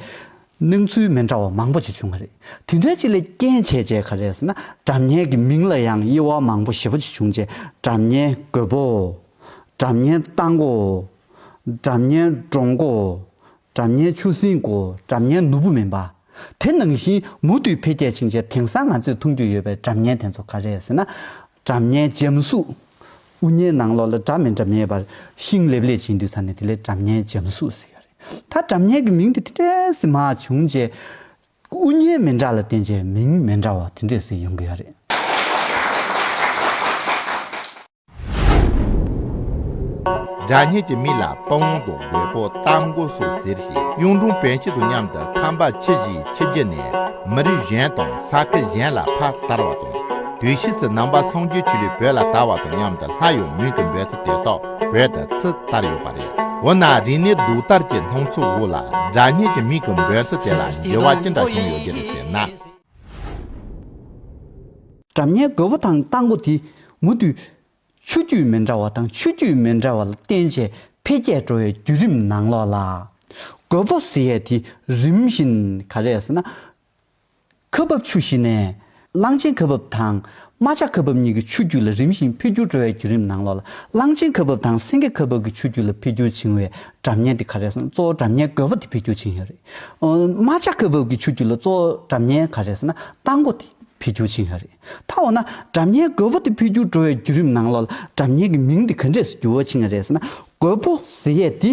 སྣང་ཚུལ་མི་འདྲ་བ་མང་པོ་ཅིག་བྱུང་བ་རེད། དེ་འདྲའི་ཅིག་ལས་རྐྱེན་བྱས་རྗེས་ག་རེ་ཟེར་ན་གྲབས་ཉལ་གྱི་མིང་ལ་ཡང་དབྱེ་བ་མང་པོ་ཞེ་པོ་ཅིག་བྱུང་རྗེས་གྲབས་ཉལ་རྒོད་པོའོ། གྲབས་ཉལ་རྟ་མགོའོ། གྲབས་ཉལ་འབྲོང་མགོའོ། གྲབས་ཉལ་ཆུ་སྲིན་གོ་གྲབས་ཉལ་ནུ་བོ་མེ་འབར། དེ་ནང་བཞིན་མུ་མཐུད་འཕེལ་རྒྱས་ཕྱིན་རྗེས་དེང་སང་ང་ཚོས་མཐོང་རྒྱུ་ཡོད་པའི་གྲབས་ཉལ་དེ་ཚོ་ག་རེ་ཟེར་ན། གྲབས་ཉལ་འཇམ་གཟུགས། དབུ་བརྙན་ནང་ལོགས་ལ་འདྲ་མི་འདྲ་མེད་པར་ཤིང་ལེབ་ལས་བྱས་འདུག་ས་ནས་དེ་ལས་འདྲ་མཉན་འཇམ་གཟུགས་ཟེར་ཡ་རེད། ད་འདྲ་མཉན་གྱི་མིང་དེ་དེ་འདྲའི་ཟེར་མ་བྱུང་རྗེས། དབུ་བརྙན་མི་འདྲ་ལ་བརྟེན་རྗེས་མིང་མི་འདྲ་བ་དེ་འདྲས་ཟེར་ཡོང་གི་ཡ་རེད། འདྲ་མཉན་གྱི་མིང་ལ་དཔའ་བོ་དང་རྒོད་པོ་རྟ་མགོ་སོགས་ཟེར་ཞིང་གཡུང་དྲུང་བོན་སྤྱི་དང་མཉམ་དུ་ཁམས་པ་ཕྱི་བཞིན་ཕྱི་རྒྱུད་ནས་མི་རིགས་གཞན་དང་ས་ཁུལ་གཞན་ལ་ཕར་དར་བ་དང། དུས་བཞི་སུ་ནང་པ་ཚོང་ཆུའི་ཆུ་ལུད་བོད་ལ་དར་བ་དང་མཉམ་དུ་ལྷ་ཡོངས་མུན་གྱི་འབོད་ཚིག་དེ་དག་བོད་དུ་ཚུ་དར་ཡོད་པ་རེད་འོ་ན་རིག་གནས་གདུགས་དར་གྱི་ལྷུང་ཚུལ་དབུ་ལ་སྒྲ་སྙན་གྱི་མིང་གི་འབོད་ཚིག་དེ་ལ་འགྱུར་བ་ཅི་འདྲ་བྱུང་ཡོད་ཀྱི་རེད་ཟེར་ན། སྒྲ་སྙན་རྒོད་པོ་དང་སྟག་མགོ་དེ་མུ་མཐུད་ཆུ་རྒྱུས་མི་འདྲ་བ་དང་ཆུ་རྒྱུས་མི་འདྲ་བ་ལ་བརྟེན་བྱས་འཕེལ་རྒྱས་འགྲོ་བའི་བརྒྱུད་རིམ་ནང་ལོགས་ལ། རྒོད་པོ་ཟེར་ཡས་དེ་རིམ་བཞིན་ག་རེ་ཟེར་ན། ཁ་འབབ་ཆུ་བཞི་ནས། གླང་ཆེན་ཁ་འབབ་དང་རྨ་བྱ་ཁ་འབབ་གཉིས་ཀྱི་ཆུ་རྒྱུད་ལ་རིམ་བཞིན་འཕེལ་འགྱུར་འགྲོ་བའི་བརྒྱུད་རིམ་ནང་ལོ་ལ་གླང་ཆེན་ཁ་འབབ་དང་སེང་གེ་ཁ་འབབ་ཀྱི་ཆུ་རྒྱུད་ལ་འཕེལ་འགྱུར་བྱུང་བའི་གྲབས་གཉན་དེ་ག་རེ་ཟེར་ན་གཙོ་བོ་གྲབས་གཉན་རྒོད་པོ་དེ་འཕེལ་འགྱུར་བྱུང་ཡོད་རེད། རྨ་བྱ་ཁ་འབབ་ཀྱི་ཆུ་རྒྱུད་ལ་གཙོ་བོ་གྲབས་གཉན་ག་རེ་ཟེར་ན་རྟ་མགོ་དེ་འཕེལ་འགྱུར་བྱུང་ཡོད་རེད། ད་འོ་ན་གྲབས་གཉན་རྒོད་པོ་དེ་འཕེལ་འགྱུར་འགྲོ་བའི་བརྒྱུད་རིམ་ནང་ལོ་ལ་གྲབས་གཉན་གྱི་མིང་དེ་ག་འདྲས་སུ་འགྱུར་བ་བྱུང་ཡོད་རེད་ཟེར་ན་རྒོད་པོ་ཟེར་ཡས་དེ་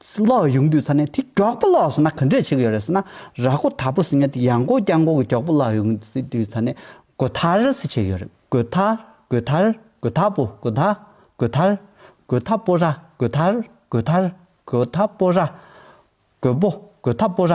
སྲིན་ལག་གཡུག་འདུས་ཚར་ནས་དེ་གྲོགས་པོ་ལགས་ཟེར་ན་ག་འདྲས་བྱེད་གི་ཡོད་རེད་ཟེར་ན་ར་གོ་ད་པོ་ཟེར་ངས་དེ་ཡང་གོ་རྐྱང་གོ་གི་གྱོགས་པོ་ལགས་གཡུག་འདུས་ཚར་ནས་གོ་ཐ་ར་སི་བྱེད་གི་ཡོད་རེད་གོ་ཐ་གོ་ཐ་ར་གོ་ཐ་པོ་གོ་ཐ་གོ་ཐ་ར་གོ་ཐ་པོ་ར་གོ་ཐ་ར་གོ་ཐ་ར་གོ་ཐ་པོ་ར་གོ་པོ་གོ་ཐ་པོ་ར།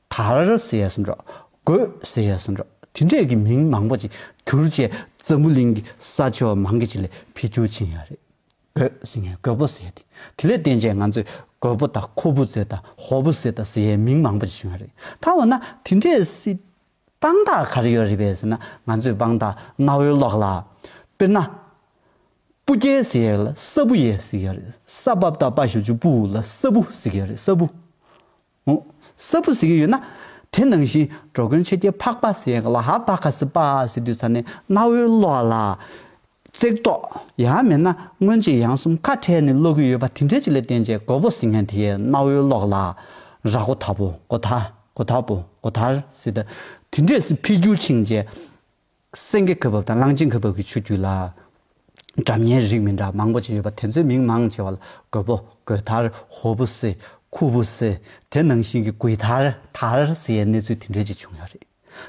དར་ཟེར་ཡས་སུ་འགྲོ། རྒོད་ཟེར་ཡས་སུ་འགྲོ། དེ་འདྲས་ཀྱི་མིང་མང་པོ་ཅིག་གྱུར་རྗེས་འཛམ་བུ་གླིང་གི་ས་ཕྱོགས་མང་གི་ཅིག་ལས་ཕི་རྒྱུ་ཕྱིན་ཡག་རེད། རྒོད་ཟེར་ངས་རྒོད་པོ་ཟེར་ཏེ། དེ་ལས་བརྟེན་རྗེས་ང་ཚོས་རྒོད་པོ་དང་ཁོ་བུ་ཟེར་དང་ཧོ་བུ་ཟེར་དང་ཟེར་ཡས་མིང་མང་པོ་ཅིག་བྱུང་ཡག་རེད། ད་འོ་ན་དེ་འདྲས་སྲིད། དཔང་རྟགས་ག་རེ་ཡོད་རེད་པས་ཟེར་ན་ང་ཚོས་དཔང་རྟགས་གནའ་བོའི་ཀློག་ལ། དཔེར་ན། སྤུ་རྒྱལ་ཟེར་ཡས་ལ་ས་སྤུ་ཡས་ཟེར་ཡག་རེད། ས་བབ་དང་དཔའ་ཞུ་ཆུ་སྤུ་ལ་ས་སྤུ་ཟེར་ཡག་རེད་ས་སྤུ། ངོ། གསར་བུ་ཟེར་གྱི་ཡོད་ན། དེ་ནང་བཞིན་འགྲོ་མགོན་ཆོས་རྒྱལ་འཕགས་པ་ཟེར་གི་ལ་ཧ་བ་ཁ་སི་པ་ཟེར་དུས་ཚར་ནས་གནའ་བོའི་བློ་ལ། བརྩེགས་ཏོག། ཡང་མེད་ན་སྔོན་ཆད་ཡང་གསུམ་ཁ་བྲལ་ནས་ཀློག་གི་ཡོད་པ་དེ་འདྲའི་ཅིག་ལས་བསྟན་བྱའི་མགོ་བོ་ཟིང་ངན་དེའི་གནའ་བོའི་བློ་ལ། ར་སྒོ་ད་པོ་སྒོ་ད་སྒོ་ད་པོ་སྒོ་དར་ཟེར་དུས་དེ་འདྲས་སུ་འཕེལ་འགྱུར་ཕྱིན་རྗེས། སེང་གེ་གོས་བབས་དང་གླང་ཆེན་གོས་བབས་ཀྱི་ཆུ་རྒྱུས་ལ། གྲམ་ཉའི་རིགས་མི་འདྲ་མང་པོ་ཅི་ཡོད་པ་དེ་ཚོའི་མིང་མང་ཆེ་བ་ལ་གོས་པོ། གོས་དར། ཧོ་བུ་སེ། ཁུ་བུ་སེ། དེ་ནང་བཞིན་གྱི་གུས་དར། དར། སེ་ཡའི་གནས་ཚུལ་དེ་འདྲའི་ཅིག་བྱུང་ཡོད་རེད།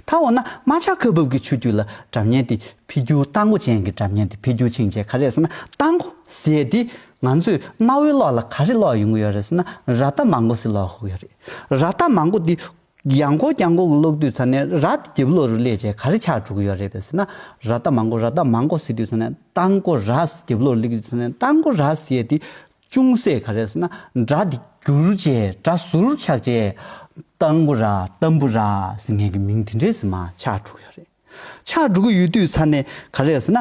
ད་འོ་ན་རྨ་བྱ་གོས་བབས་ཀྱི་ཆུ་རྒྱུས་ལ་གྲམ་ཉའི་དེ་ཕི་རྒྱུ་རྟ་མགོ་ཅན་གྱི་གྲམ་ཉའི་དེ་ཕི་རྒྱུ་ཕྱིན་རྗེས་ག་རེ་ཟེར་ན་རྟ་མགོ་སེ་ཡ་དེ་ང་ཚོས་གནའ་བོའི་གློག་ལ་ག་རེ་གློག་ཡོང་གི་ཡོད་རེད་ཟེར་ན་ར་རྟ་མང་པོ་སེ་གློག་ཧུག་ཡོད་རེད། ར་རྟ་མང་པོ་དེ་གཡང་འགོག་གཡང་འགོག་གི་གློག་རྡུལ་ཚ་ནས་ར་ཏི་རྒྱབ་ལོགས་རུ་སླེབས་རྗེས་ག་རེ་ཆགས་འགྲོ་གི་ཡོད་རེད་པས་ཟེར་ན། ར་ཏི་མ་འགོག་ར་ཏི་མ་འགོག་ཟེར་དུས་ཚ་ནས་རྟ་འགོག་ར་ཏི་རྒྱབ་ལོགས་རུ་སླེབས་དུས་ཚ་ནས་རྟ་འགོག་ར་ཏི་ཟེར་ཡས་དེ་ཅུང་ཟད་ག་རེ་ཟེར་ན་སྒྲ་དེ་བསྒྱུར་རྗེས་སྒྲ་ཟུར་ཆགས་རྗེས། རྟ་འགོ་ར་རྟ་འབུ་ར་ཟེར་ངན་གྱི་མིང་དེ་འདྲས་ཟེར་མ་ཆགས་འགྲོ་གི་ཡོད་རེད། ཕྱག་དྲུག་གི་ཡུལ་དུས་ཚར་ནས་ག་རེ་ཟེར་ན།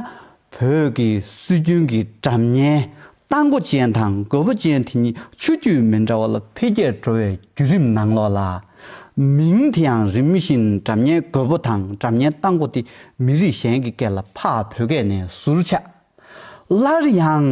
བོད་ཀྱི་སྲོལ་རྒྱུན་གྱི་གྲབས་གཉན། རྟ་མགོ་ཅན་དང་རྒོད་པོ་ཅན་དེ་གཉིས་ཆུ་རྒྱུས་མི་འདྲ་བ་ལ་འཕེལ་རྒྱས་འགྲོ་བའི་བརྒྱུད་རིམ་ནང་ལོགས་ལ། མིང་དེའང་རིམ་བཞིན་གྲབས་གཉན་རྒོད་པོ་དང་གྲབས་གཉན་རྟ་མགོ་སྟེ་མི་རིགས་གཞན་གྱི་སྐད་ལ་འཕགས་བོད་སྐད་ནས་ཟུར་ཆག། སླར་ཡང།